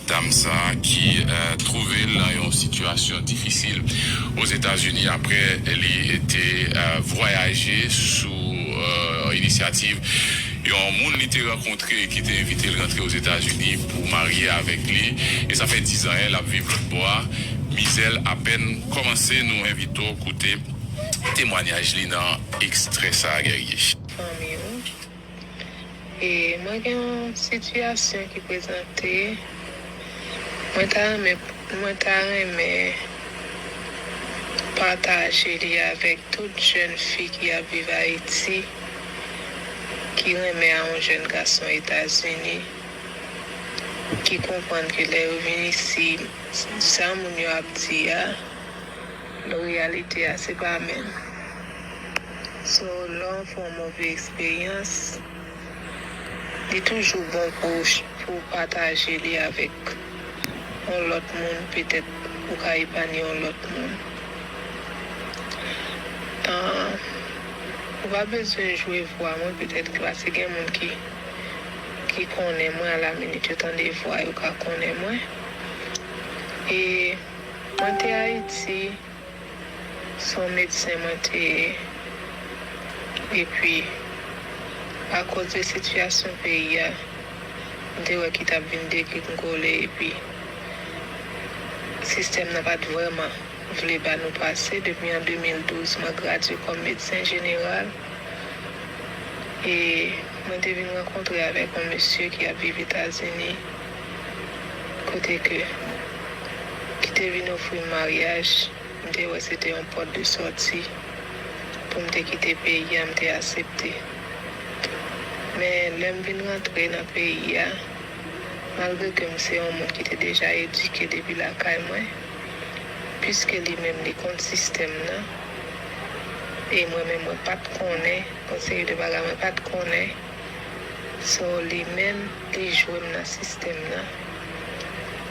Dam sa a ki twouve l nan yon sitiyasyon difisil Ozetazini apre li te vwayaje sou inisyativ yon moun li te rankontre ki te envite l rantre Ozetazini pou marye avèk li e sa fè dizan l ap viv lòt bò a mizè l apèn kòmanse nou envite w koute temwanyaj li nan ekstrè sa a Guerrier. fanmi ou. E mwen gen yon sitiyasyon ki prezante, mwen ta renmen mwen ta renmen pataje li avèk tout jèn fi ki ap viv Ayiti, ki renmen a yon jèn gason Etazini, ki konprann ke lè yo vin isi, sa moun yo ap di a. Bon reyalite a se pa menm. So lè w fè yon move eksperyans li toujou bon pou w pataje li avèk yon lòt moun petèt ou ka epanye yon lòt moun. Ou pa bezwen jwe vwa mwen petèt klase gen moun ki konnen mwen a la minit yo tande vwa yo ka konnen mwen e. Mwen te Ayiti, se yon medsen mwen te ye, epi akoz de sitiyasyon peyi a, m te wè ki t ap vin degringole epi sistèm nan pa t vrèman vle ba nou pase. Depi an 2012, mwen gradye kòm medsen jeneral e mwen te vin rankontre avèk yon mesye ki ap viv Etazini. kote ke ki te vin ofri m maryaj, m te wè se te yon pòt de sòti pou m te kite peyi a, m te asepte. Men lè m vin rantre nan peyi a, malgre ke m se yon moun ki te deja edike depi lakay mwen, piske li menm li konn sistèm nan, e mwen menm mwen pa t konnen yon seri de bagay mwen pa t konnen, So li menm li jwe m nan sistèm nan.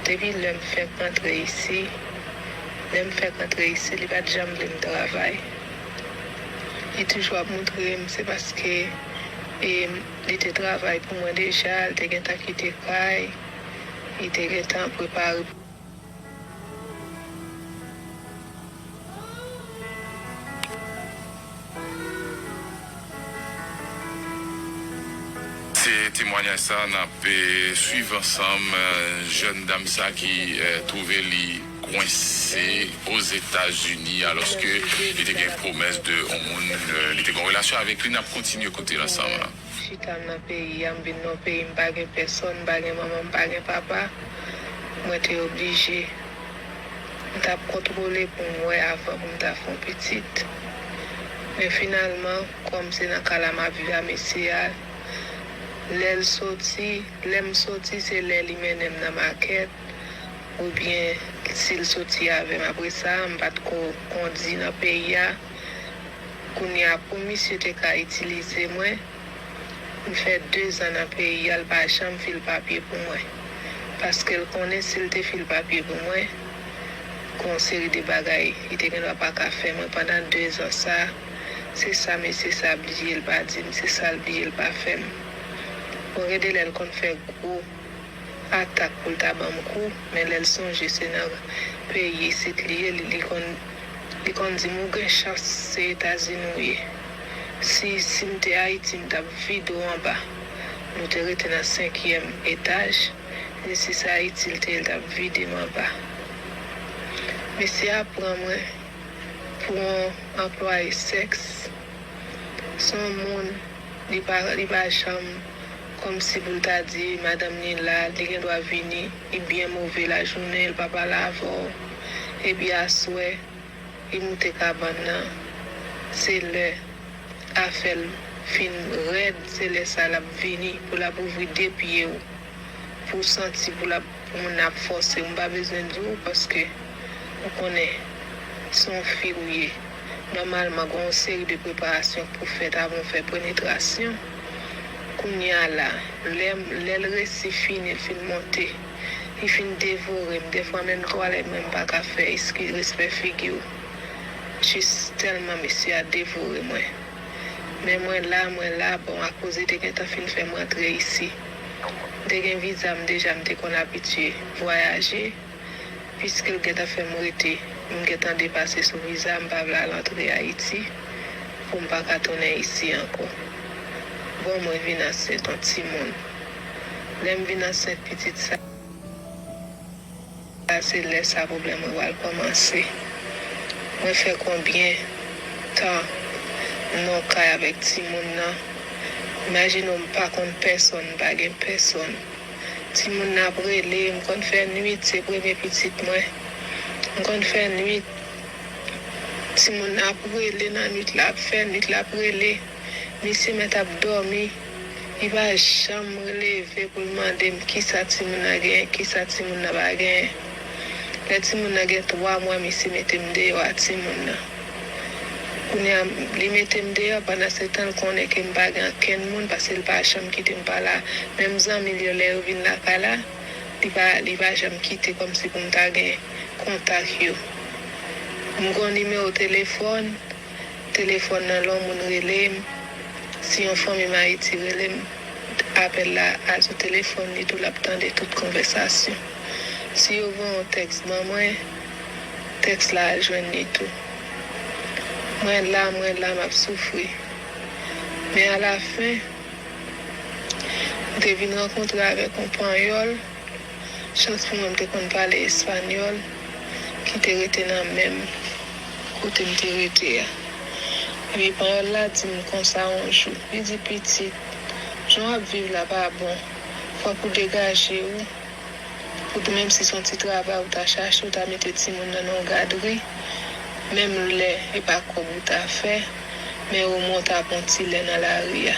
Depi lè m fèk antre isi, lè m fèk antre isi li pa t janm vle m travay. Li toujou ap moutre m se paske e li te travay pou mwen deja, li te gentan kite kay, li te gentan prepare. Se temwanyaj sa a n ap swiv ansanm, jèn dam sa ki twouve li kwense Ozetazini alòske li te gen pwomès de on moun li te gen yon relasyon avèk li, n ap kontinye koute l ansanm. Chitam nan peyi a m vin nan yon peyi m pa gen pèsòn m pa gen manman m pa gen papa mwen te oblije m tap kontwole pou m wè avan pou m ta fè yon pitit men finalman kòm se nan kay la map viv a mesye a lè l soti lè m soti se lè li mennen m nan makèt oubyen si l soti avè m apresa m pat ko kondi nan peyi a. Kounye a pou misye te ka itilize mwen, m fè 2 zan nan peyi a l pa janm fil papye pou mwen. Paske l konnen si l te fil papye pou mwen, gen yon seri de bagay li te gendwa pa ka fè mwen pandan 2 zan sa. Se sa mesye sa bliye l pa di m, se sa l bliye l pa fè m. Bon gen de lè l konn fè gwo. atak poul ta banm kou men lèl sonje se nan peyi isit li ye li konn li konn dim ou gen chans se etazini ou ye si sim te ayiti m tap vide w anba nou te rete nan senkyèm etaj ni si se ayiti l te ye l tap vide m anba mesye a pran mwen pou on anplwaye sèks son moun. Li pa li pa janm kòmsi pou l ta di madanm li la, li gen dwa vini, li byen move lajounen li pa pale avè w, epi aswè li moute kabann nan, se lè afè l fin rèd se lè sa l ap vini pou l ap ouvri de pye w. pou santi pou lap pou moun nan ap fòsew m pa bezwen di w paske ou konnen se yon fi ou ye nòmalman gen yon seri de preparasyon k pou fèt avan w fè prenetrasyon kounya la lè lè l resi fini l fin monte li fin devore m dèfwa menm twalèt mwen m pa ka fè eskiz respè figi w jis tèlman mesye a devore mwen men mwen la mwen la bon akoz li te gentan fin fè m rantre isi. M te gen viza m deja m te konn abitye vwayaje piske l gentan fè m rete m gentan depase sou viza m pa vle al antre Ayiti pou m paka tounen isi ankò bon mwen vin ansent on timoun lè m vin ansent pitit sa. Sa se lè sa pwoblèm mwen pral kòmanse. Mwen fè konbyen tan m nan kay avèk timoun nan. Imajine w m pa konn pèsonn, m pa gen pèsonn. Timoun nan ap rele, m konn fè nuit, se premye pitit mwen. M konn fè nuit, timoun nan ap rele nan nuit la, ap fè nuit la ap rele. Misye mèt ap dòmi, li pa janm leve pou l mande m kisa timoun nan genyen, kisa timoun nan pa genyen. Lè timoun nan gen 3 mwa misye mete m deyò a timoun nan. Kounye a, li mete m deyò pandansetan l konnen ke m pa gen ankenn moun paske l pa janm kite m pa la. Menm zanmi l yo lè yo vin lakay la, li pa li pa janm kite kòmsi pou m ta gen kontak yo. M gen yon nimewo telefòn, Telefòn nan lon moun rele m si yon fanmi m Ayiti rele m apèl la al sou telefòn li tou l ap tande tout konvèsasyon si yo voye yon tèks ban mwen tèks la al jwenn li tou mwen la mwen la m ap soufri men alafen m te vin rankontre avèk yon panyòl chans pou mwen m te konn pale espanyòl ki te rete nan menm kote m te rete a. Epi panyòl la di m konsa yon jou, li di, Pitit, jan w ap viv la pa bon, fòk ou degaje ou, pou t menm si s on ti travay ou ta chache, ou ta mete timoun nan nan yon gadri, menm lè e pa kòb ou ta fè, men omwen w ta pran ti lè nan lari a.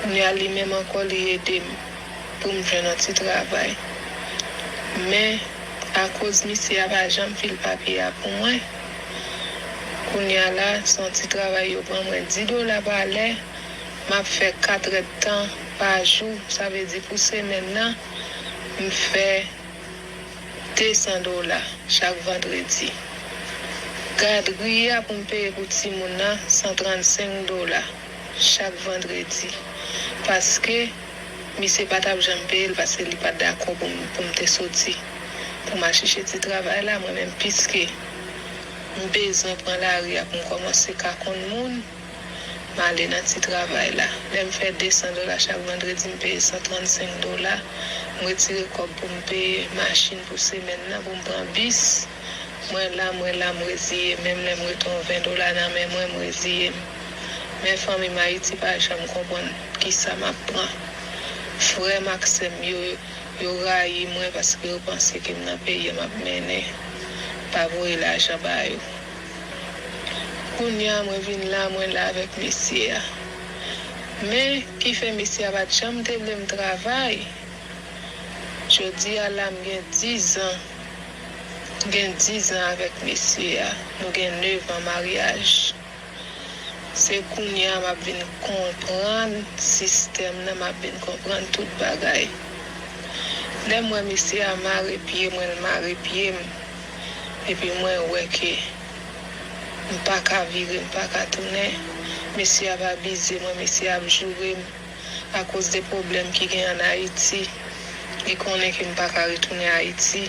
Kounye a li menm ankò li ede m. pou m jwenn yon ti travay. Men, akoz misye a pa janm file papye a pou mwen, kounye a la, se yon ti travay yo pran mwen di dola pa lè, m ap fè katrèdtan pa jou, sa vle di pou semèn nan, m fè desan dola chak vandredi. Gadri a pou m peye pou timoun nan, 135 dola chak vandredi, paske. Misye pa tap janm peyel paske li pat dakò pou m pou m te soti pou m al chèche ti travay la mwen menm piske m bezwen pran lari a pou m kòmanse ka konn moun m ale nan ti travay la lè m fè 200 dola chak vandredi m peye 135 dola m retire kòb pou m peye machin pou semèn nan pou m pran bis mwen la mwen la m reziye menm lè m rete yon 20 dola nan men mwen m reziye m men fanmi m ayiti pa janm konprann Kisa map pran? Frèm ak sèm yo, yo rayi mwen paske yo panse ke m nan peyi map mennen. Pa voye lajan ba yo. Kounya mwen vin la, mwen la avèk mesye a. Men, ki fè mesye a pat janm te vle m travay. Jodi a la m gen dizan. M gen dizan avèk mesye a. Nou gen nevan maryaj. Se kounye a map vin konprann sistèm nan map vin konprann tout bagay lèm wè mesye a mare pye mwen l mare pye m epi mwen wè ke m paka vire m paka tounen mesye a ap abize mwen mesye a ap joure m. akoz de pwoblèm ki gen an Ayiti. Li konnen ke m pa ka retounen Ayiti.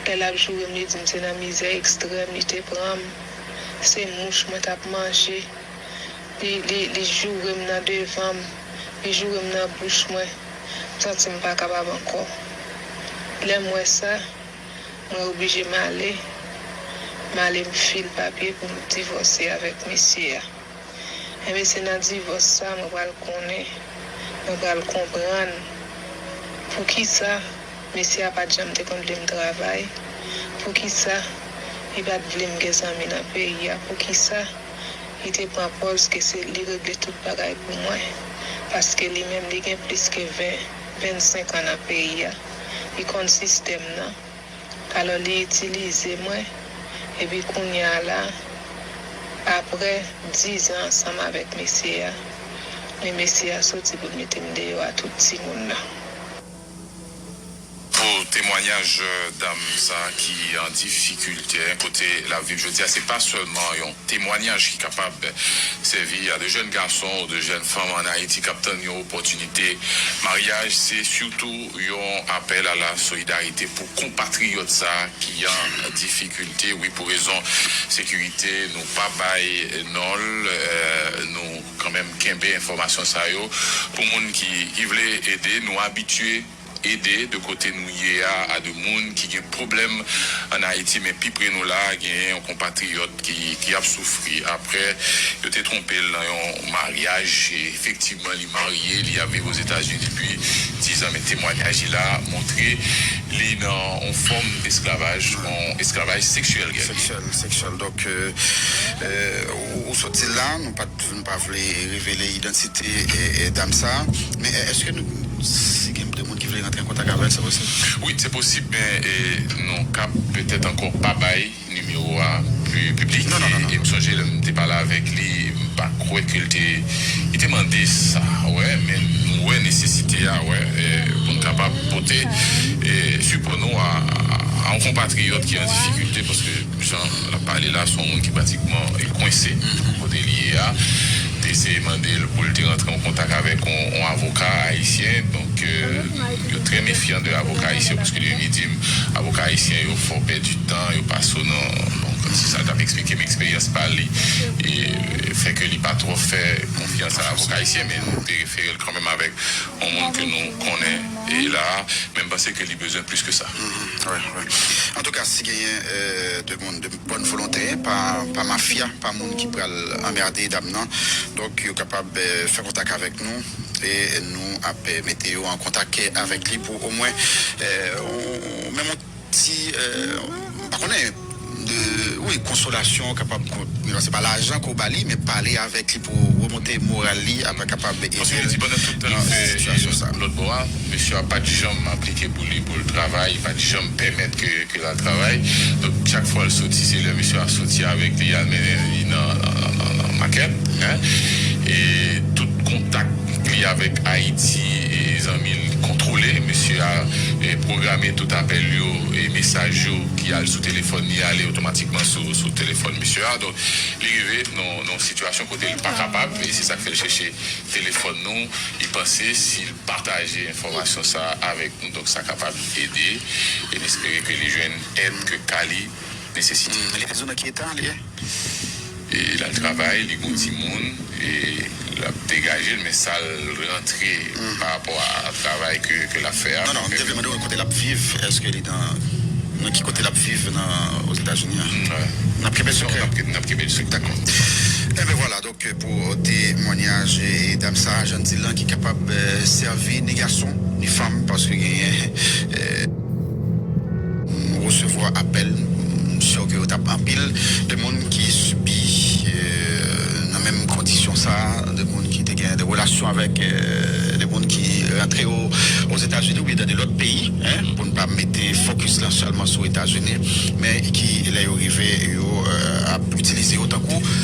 Lè l ap joure m, li di m se nan mizè ekstrèm li te pran m. Se mouch mwen t ap manje. Li, li, li joure m nan devan m. Li joure m nan bouch mwen. M santi m pa kapab ankò. Lè m wè sa, mwen oblije m ale. M ale m file papye pou m divòse avèk mesye a. Enben se nan divòs sa mwen pral konnen, mwen pral konprann poukisa mesye a pat janm te konn vle m travay, poukisa li pat vle m gen zanmi nan peyi a, poukisa li te pran pòz ke se li regle tout bagay pou mwen, paske li menm li gen plis ke 20, 25 an nan peyi a, li konn sistèm nan. Alò li itilize mwen epi kounya la aprè 10 an ansanm avèk mesye a men mesye a soti pou l mete m deyò a tout timoun nan. Pou temwanyaj dam sa ki an difikilte kote l ap viv jodi a se pa sèlman yon temwanyaj ki kapab sèvi a de jèn gason ou de jèn fanm an Ayiti k ap tann yon opòtinite maryaj se sitou Yon apèl a la solidarite pou konpatriyòt sa ki an difikilte wi pou rezon sekirite nou pa bay non l nou kanmenm kenbe enfòmasyon sa yo pou moun ki vle ede nou abitye ede de kote nou ye a a de moun ki gen pwoblèm an ayiti men pi pre nou la genyen yon konpatriyòt ki ap soufri aprè yo te twonpe l nan yon maryaj efektivman Marye, li ap viv Ozetazini depi dizan men temwanyaj li la montre li nan yon fòm esklavaj, yon esklavaj seksyèl Gaby. Seksyèl, seksyèl. Donk, ou sot di l la, nou pa t, nou pa vle revele idantite dam sa a. Men èske nou, si gen de moun ki vle rantre an kontak avè l, se posib? Wi, se posib men nou kab petèt ankò pa bay Nimewo a pu piblike e m sonje lè m te pale avèk li m pa kwè ke l te li te mande sa wè men nou wè nesesite a wè pou n kapab pote sipò nou a yon konpatriyòt ki an difikilte paske jan l ap pale la se yon moun ki pratikman kwense kote li ye a te eseye mande l pou l te rantre an kontak avèk yon avoka ayisyen donk. Yo trè mefyan de avoka ayisyen paske li menm li dim avoka ayisyen yo fò pèdi tan yo pa so nan donk se sa l tap eksplike m eksperyans pa li fè ke li pa twò fè konfyans a avoka ayisyen men nou te refere l kanmenm avèk yon moun ke nou konnen la a men m panse ke li bezwen plis ke sa. Antouka si genyen 2 moun. Bòn volontè, pa pa mafya, pa moun ki pral anmerde dam nan. Donk yo kapab fè kontak avèk nou e nou ap mete yo an kontak avèk li pou omwen yon menm yon ti m pa konnen wi konsolasyon kapab se pa lajan ke w ba li men pale avèk li. pou remonte moral li apre kapab ede l nan sitiyasyon sa. Lòt bò a, mesye a pat janm aplike pou li pou l travay, li pat janm pèmèt ke ke l al travay. Donk chak fwa l soti se lè mesye a soti avèk li al mennen li nan nan makèt hein e tout kontak li avèk Ayiti e zanmi l kontwole. Mesye a pwograme tout apèl yo e mesaj yo ki al sou telefòn li ale otomatikman sou sou telefòn mesye a. Donk li rive nan. yon sitiyasyon kote li pa kapab e se sa k fè l chèche telefòn nou, li panse si l pataje enfòmasyon sa a avèk nou donk sa kapab ede e n espere ke li jwenn èd ke ka li nesesite. Li bezwen nan ki eta li ye? Li al travay, li gen yon timoun e l ap degaje l men sa l. rantre pa rapò a travay ke lap fè a. Non non, m te vle mande w kote lap viv, eske li nan, nan ki kote lap viv nan Ozetazini an? Nap kenbe l sekrè? Nap kenbe l sekrè. Dakò. Enben vwala, donk pou temwanyaj dam sa a, jan n di l lan, ki kapab sèvi ni gason, ni fanm, paske genyen, m resevwa apèl, m si ke yo tap anpil de moun ki sibi nan menm kondisyon sa a. de moun ki te gen de relasyon avèk de moun ki rantre Ozetazini oubyen nan de lòt peyi, pou n pa mete fokis lan sèlman sou Etazini, men ki lè yo rive yo ap itilize yo tankou.